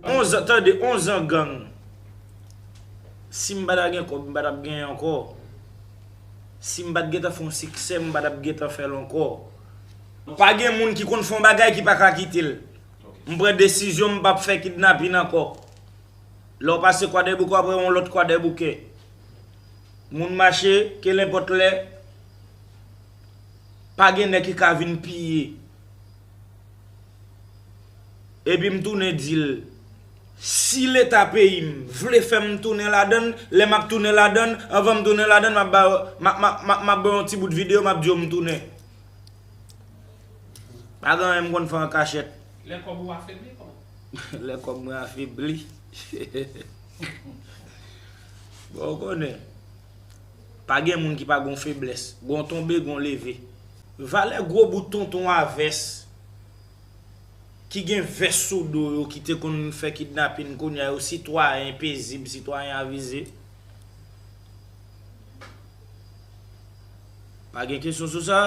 Onzan tande onzan gang sim pata gen kob m patap genyen ankò sim pat gentan fè yon siksè m patap gentan fèl ankò pa gen moun ki konn fè yon bagay ki paka kitel m pran desizyon m pap fè kidnapin ankò lèw pase kwadèboukè wap wè yon lòt kwadèboukè. Moun mache, kelenpòt lè, pa gen nèg ki ka vin piye. Epi m tounen di l, si leta peyi m vle fè m tounen ladan l, lè m ap tounen ladan l, anvan m tounen ladan l, m ap ba yo, m ap ba yo yon ti bout videyo, m ap di yo m tounen. Pa gen anyen m konn fè an kachèt. Lè kòb ou afebli, kòman? Lè kòb mwen afebli. Bon ou konnen, pa gen moun ki pa gon feblès, gon tonbe gon leve. Valè gwo bout tonton a vès, ki gen vès sou do yo ki te konn fè kidnapin kounya yo sitwayen pezib, sitwayen avize. Pa gen kesyon sou sa?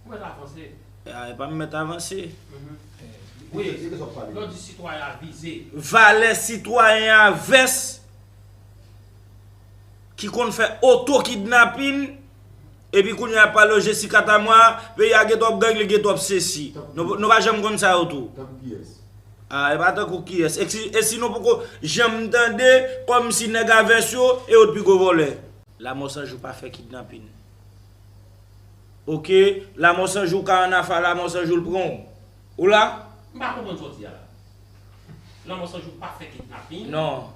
Ou mèt avanse. E pa m mèt avanse. Lè w di sitwayen avize. Valè sitwayen a vès. ki konn fè oto kidnapin epi kounye a pale yo Jessica Tamwa peyi a gen twòp gang li gen twòp sesi nou pa janm konn sa yo tou Tankou kiyès? A e pa tankou kiyès e si nou poko janm tande kòm si nèg a vès yo e yo t pi gwo vòlè. Lamò san jou pa fè kidnapin ok lamò san jou ka annafè lamò san jou l pran w. Ou la? M pa konprann sa w di a la. Lanmò san jou pa fè kidnaping? Non.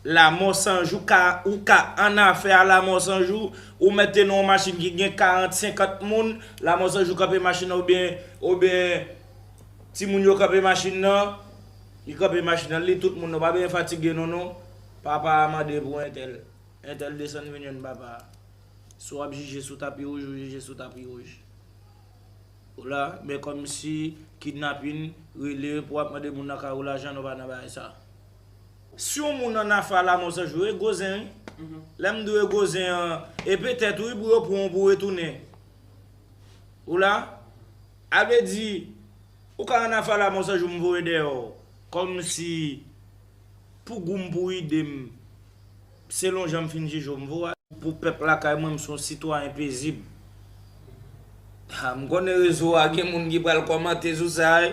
Lanmò san jou ka, ou ka annafè a lanmò san jou, ou mete nan yon machin ki gen 40, 50 moun, lanmò san jou kanpe machin nan oubyen, oubyen timoun yo kanpe machin nan, li kanpe machin nan, li li tout moun nan, ou pa bezwen fatige nou non. Papa a mande pou entèl. Entèl desann vin jwenn papa a. Si w ap jije sou tapi wouj, ou jije sou tapi wouj. Ou la men komsi kidnapin rele pou wap mande moun nan kay ou lajan nou pa nan bagay sa. Si yon moun an afè a lamò se jou e gwo zen wi lèm di w e gwo zen an e petèt wi pou yo pran w pou retounen ou la a vle di ou ka an afè a lamò se jou m voye dèyè w kòmsi pou gou m pou ide m. Selon jan m fin jije w m vo a. Pou pèp lakay mwen m se yon sitwayen pezib. Ha, m konnen rezo a gen moun ki pral kòmante sou sa wi.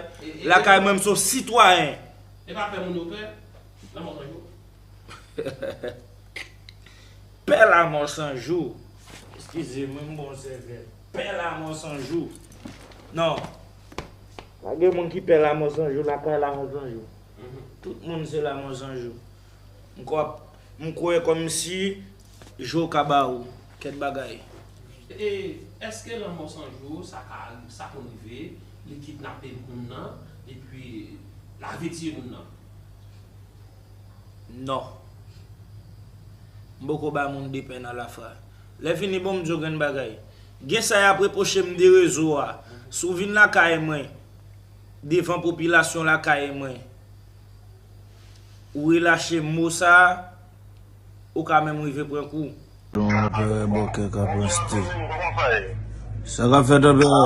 Lakay mwen m se yon sitwayen. E pa pè moun yo pè lanmò san jou? Pè lanmò san jou. Eskize mwen m bon sèvè. Pè lanmò san jou. Non. Pa gen moun ki pè lanmò san jou lakay lanmò san jou. Tout moun se lanmò san jou. M kwè kòmsi je w ka ba ou kèk bagay. E èske lanmò san je w sa ka sa konn rive li kidnape moun nan epi lave tiye moun nan? Non. M poko bay moun de pen alafra. Lèfini bon m di w grenn bagay. Gen sa y ap repwoche m de rezo a. Si w vin lakay mwen devan popilasyon lakay mwen Ou relache mou sa a, ou ka menm rive pran kou. Don Anperè Bòkè Kaprasté Sa kap fèt Anperè?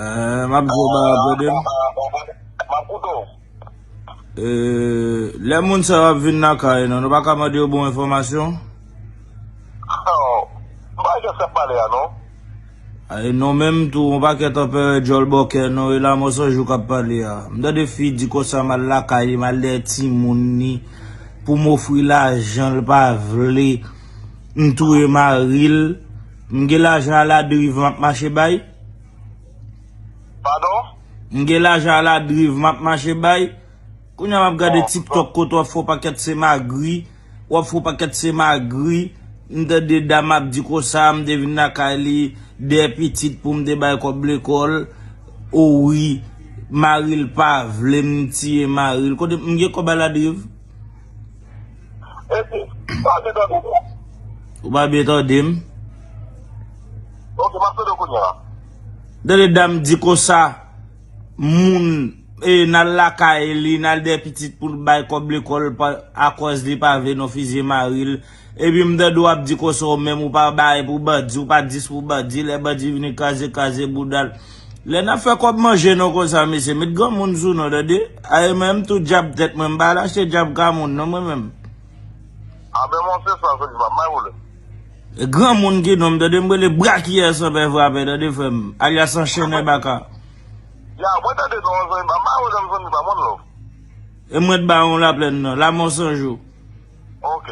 Eeh map diw bagay wap ede m? Eeh lè moun sa yo ap vin lakay nan nou pa ka mande yo bon enfòmasyon? Ay non menm tou on pakèt anperè djòl bòkè non e lamò san jou kap pale a m tande fi di konsa m al lakay li m al dèyè timoun li pou m ofri lajan l pa vle m touye mari l m gen lajan a la driv map mache bay Padon? M gen lajan a la driv map mache bay kounya map gade tiktok kote wap fè on pakèt se magri. wap fon paket se magri m tande dam ap di konsa m te vin lakay li de pitit poum te bay kob lekol oh wi maril pa vlem m tiye maril kote m gen kob a la drive. Esi, m pa byen tande w non. Ou pa byen tande m? Ok, m ap tande w kounya. M tande dam di konsa. moun e nal lakay li nal dè pitit poul bay kòb lekòl akòz li pa vle nou fizye maril epi m tande w ap di konsa w menm ou pa bay pou bandi ou pa 10 pou bandi lè bandi vini kraze kraze bouda l lè nap fè kòb manje nou konsa mesye met granmoun sou nou tande a e menm tou djab tèt mwen m pa al achte djab ka moun non mwen menm. Abe monche sa se ki sa m bay pou li. Granmoun ki nonm tande m rele brakiyè san pè frape tande frèm alyas anchenè baka. Ya mwen tande non an zanmi pam ma we love zanmi pam one love. E mwen t ba yon laplèn nan lamò san jou. Ok.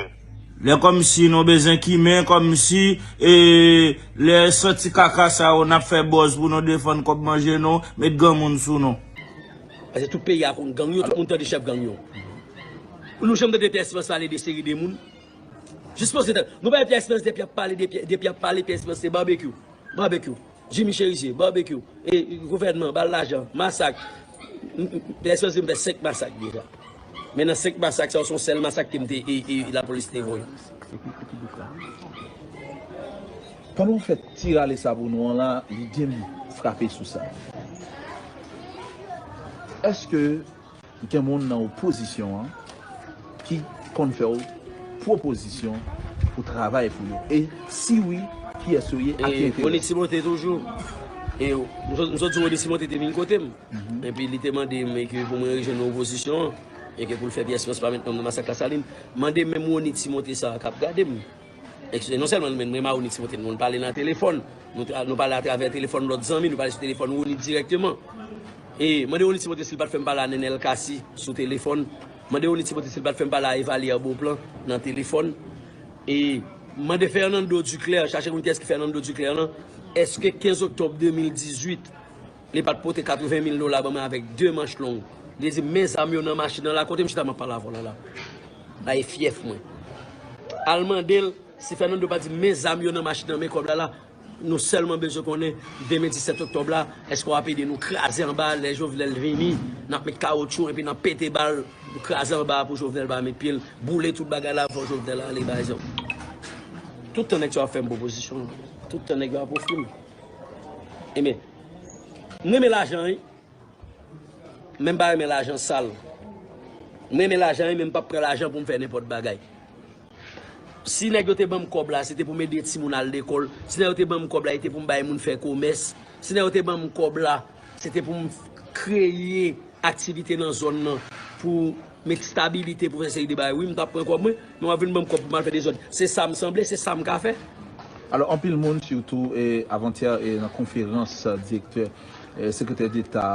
Lè kòmsi nou bezwen kimen kòmsi e lè santi kaka sa yo nap fè bòz pou nou defann kòb manje nou met granmoun sou nou. Pase tout peyi a konn gang yo tout moun tande chèf gang yo. Nou janm tande pè Esperans pale de seri de moun. Jis poze tèt. Nou bay Pierre Esperance depi ap pale depi ap pale Pierre Esperance se barbecue barbecue Jimmy Cherizier barbecue e gouvènman bal lajan masak Pierre Esperance di m fè 5 masak deja men nan 5 masak sa yo son sèl masak ke m te e lapolis te voye. Pandan w fè ti rale sabo nou an la lide m frape sou sa èske Gen moun nan opozisyon an ki konn fè w pwopozisyon pou travay pou yo? E si wi, kiyès yo ye ak ki enterè? Rony Timothé toujou. E m sot di Rony Timothé te vin kote m. Epi li te mande m ke pou mwen rejwenn nan opozisyon an. E ke pou l fè pyès pyès pa met non m nan masak Lasalin. Mande menm Rony Timothé sa a k ap gade m. Eksplike, Non sèlman nou menm, mwen Maronite Timote, nou konn pale nan telefòn. Nou pale atravè telefòn lòt zanmi, nou pale sou telefòn Rony dirèkteman. E, mande Rony Timote si li pa t fè m pale a Nenel Cassy sou telefòn. Mande Rony Timote si li pa t fè m pale a Evalière Beauplan nan telefòn. E, mande Fernando Duclaire, chache konn kiyès ki Fernando Duclaire lan, èske 15 oktòb 2018, Li pat pote 80 mil dola ban mwen avèk 2 manch long. Li di m men zam yo nan machin nan la kote m chita m ap pale a vòlè la. La e fyèf mwen. Al mande l si Fernando pa di m men zam yo nan machin nan men kòb la la. Nou sèlman bezwen konnen demen 17 oktòb la èske w ap ede nou kraze anba a lè Jovenel vini n ap met kawotchou enpi n ap pete bal pou kraze anba a pou Jovenel pa met pye l boule tout bagay la avan Jovenel ale bay zam. Tout tan nèg sa yo ap fè m pwopozisyon. Tout tan nèg yo ap ofri m. Enben. M renmen lajan wi men m pa renmen lajan sal M renmen lajan wi men m pap pran lajan pou m fè nenpòt bagay Si nèg yo te banm kòb la se te pou m ede timoun al lekòl Si nèg yo te banm kòb la se te pou m bay moun fè komès Si nèg yo te banm kòb la se te pou m kreye aktivite nan zòn nan pou met stabilite pou fè seri de bagay Wi m tap pran kòb mwen Nou ap vin banm kòb pou mal fè dezòd, se sam sanble, se sam ka fè. Alò anpil moun sitou avantyè nan konferans direktè sekretè deta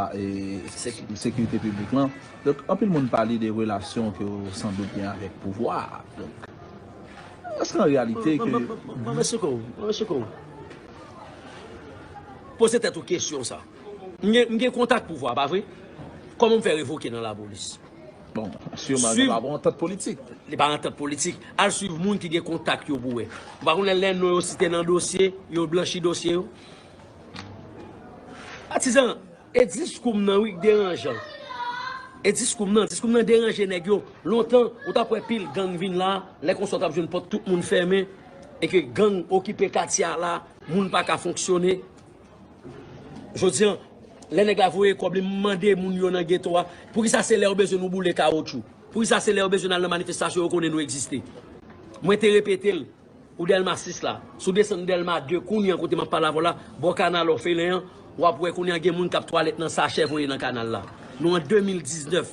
sekirite piblik lan donk anpil moun pale de relasyon ke w san dout gen avèk pouvwa a donk èske an reyalite ke Mwen mèsi kou w, mwen mèsi kou w poze tèt ou kesyon sa. M gen kontak pouvwa a pa vre? Kòman m fè revoke nan lapolis? Bon, sûrement yo pa pou antant politik. Li pa antant politik. Al swiv moun ki gen kontak yo pou wè. Ou pa konnen lè non yo site nan dosye, yo blanchi dosye yo? Patizan, e diskou m nan wi k deranjan. E diskou m nan, diskou m nan deranje nèg yo. Lontan, ou t ap wè pil gang vin la, lè konsa w t ap jwenn pòt tout moun fèmen e ke gang okipe katye a la, moun pa ka fonksyone. Jodi an, lè nèg la voye kòb li, m mande moun yo nan geto a, poukisa se lè yo bezwen nou boule kawotchou? Poukisa se lè yo bezwen n al nan manifestasyon yo konnen nou egziste? Mwen te repete l, ou Dèlma 6 la, si w desann Dèlma 2 kounye a kote m ap pale avè w la, bò kanal òfelen an, w ap wè kounye a gen moun k ap twalèt nan sachè voye nan kanal la. Nou an 2019.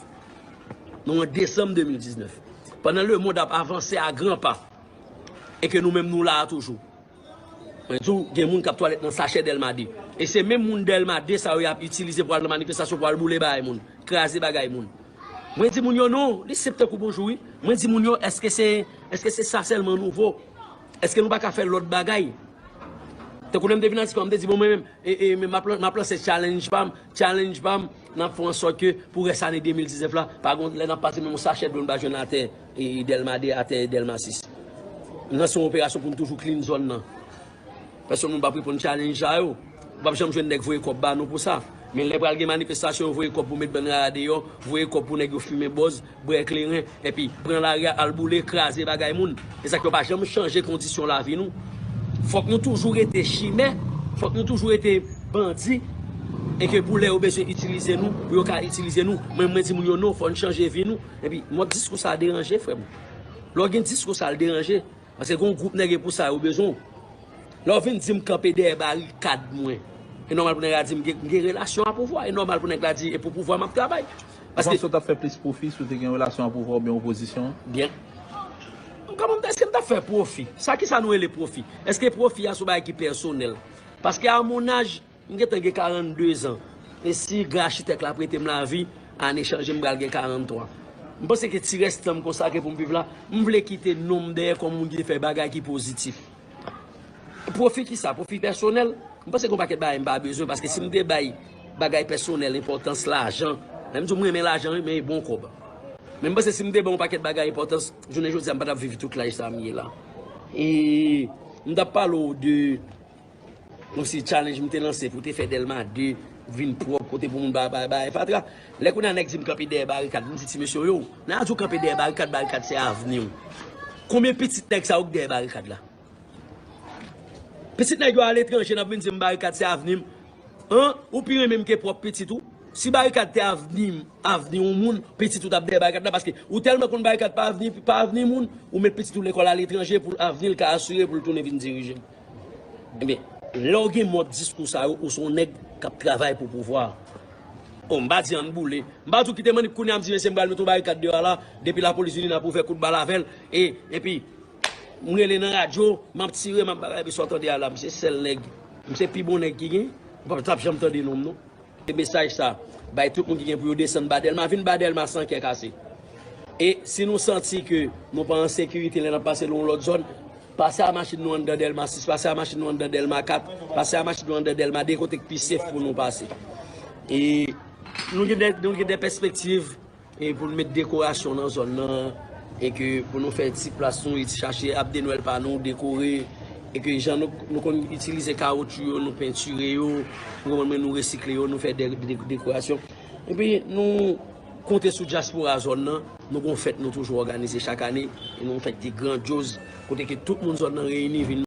Nou an desanm 2019. Pandan lemonn ap avanse a gran pa e ke nou menm nou la a toujou. Mwen di w gen moun kap twalèt nan sachè delma 2 e se menm moun delma 2 sa yo yap itilize pou al nan manifestasyon pou al boule bagay moun kraze bagay moun mwen di moun yo non li senp tankou bonjou wi mwen di moun yo eske se eske se sa selman nou vo eske nou paka fè lot bagay tankou lèm te vin atispan mwen te di bon mwen menm e e menm map map lanse challenge pam challenge pam nap fè an sòt ke pou rès ane 2019 la pa gon lè nap pase menm yon sachè dlo nou pa jwenn atè. E Dèlma 2 atè e Dèlma 6. Nou lanse yon operasyon pou nou toujou clean zòn nan. Pèsonn moun pap reponn challenge sa yo. Ou pap janm jwenn nèg voye kòb ba nou pou sa. Men lè pral gen manifestasyon yo voye kòb pou met bann rara deyò, voye kòb pou nèg yo fimen bòz, bwè kleren, epi pran lari a al boule, kraze bagay moun. E sa k yo pa janm chanje kondisyon lavi nou. Fòk nou toujou rete chimè, fòk nou toujou rete bandi. E ke pou lè yo bezwen itilize nou, pou yo ka itilize nou. Mwen mwen di moun yo non, fòn chanje vi nou. Epi mòd diskou sa deranje frèm. Lè w gen diskou sa l deranje. Paske gen yon gwoup nèg e pou sa yo bezwen w. Lè w vin di m kanpe dèyè barikad mwen. E nòmal pou nèg la di m gen relasyon a pouvwa. E nòmal pou nèg la di e pou pouvwa m ap travay. Ou panse w t ap fè plis pwofi si w te gen relasyon a pouvwa oubyen opozisyon an? Byen. M ka mande èske m t ap fè pwofi. Sa kisa nou rele pwofi? Èske pwofi a se yon bagay ki pèsonèl? Paske a mon âge. M gentan gen 42 zan e si gran achitèk la prete m lavi, ane chanje m pral gen 43. M panse ke ti rès tan m konsakre pou m viv la, m vle kite non m dèyè kòm moun ki te fè bagay ki pozitif. Pwofi kisa? Pwofi pèsonèl? M panse gen yon pakèt bagay m pa bezwen paske si m te bay bagay pèsonèl enpòtans, lajan, lè m di w m renmen lajan wi men e bon kòb. Men m panse si m te ban yon pakèt bagay enpòtans, jounen jodi a m pa t ap viv tout laj sa a m ye la. E m t ap pale w de. Osi challenge m te lanse pou te fè Dèlma 2 vin pwòp, kote pou moun pa bay bagay fatra. Lè kounye a nèg di m kanpe dèyè barikad, m di ti mesye yo, lè a di w kanpe dèyè barikad, barikad se avni w. Konbyen pitit nèg sa yo ki dèyè barikad la? Pitit nèg yo aletranje n ap vin di m barikad se avni m? An, ou pi renmen m ke pwòp pitit ou? Si barikad te avni m, avni yon moun, pitit ou t ap dèyè barikad la paske ou tèlman konn barikad pa avni, pa avni moun, ou met pitit ou lekòl aletranje pou avni l ka asire pou l tounen vin dirije. Ebyen, lè w gen mòd diskou sa yo, ou se yon nèg k ap travay pou pouvwa. O, m pa di ann boule. M pa di w kite mannip kounye a m di mesye m pral mete yon barikad deyò a la, depi lapolis vini n ap ouvè kout bal avè l, e, epi, m rele nan radyo, m ap tire, m ap bagay, epi sa w tande a la, m se sèl nèg, m se pi bon nèg ki gen, ou pa t janm tande non m non. E mesaj sa, bay tout moun ki gen pou yo desann ba Dèlma, vin ba Dèlma san kè kase. E, si nou santi ke nou pa an sekirite lè n ap pase nan yon lòt zòn, Pase a machin nou anndan Dèlma 6, pase a machin nou anndan Dèlma 4, pase a machin nou anndan Dèlma 2, kote k pi sef pou nou pase. E nou gen de, nou gen de pèspektiv e pou nou met dekorasyon nan zòn nan, e ke pou nou fè ti plas nou, e ti chache Ab de Nwèl pa nou, dekore, e ke jan nou, nou konn itilize kawotchou yo, nou pentire yo, ou konprann mwen, nou resikle yo, nou fè de dekorasyon. E pi nou. Konte sou dyaspora zòn nan, nou gen yon fèt nou toujou òganize chak ane, yon fèt ki grandyoz kote ke tout moun zòn nan reyini vin.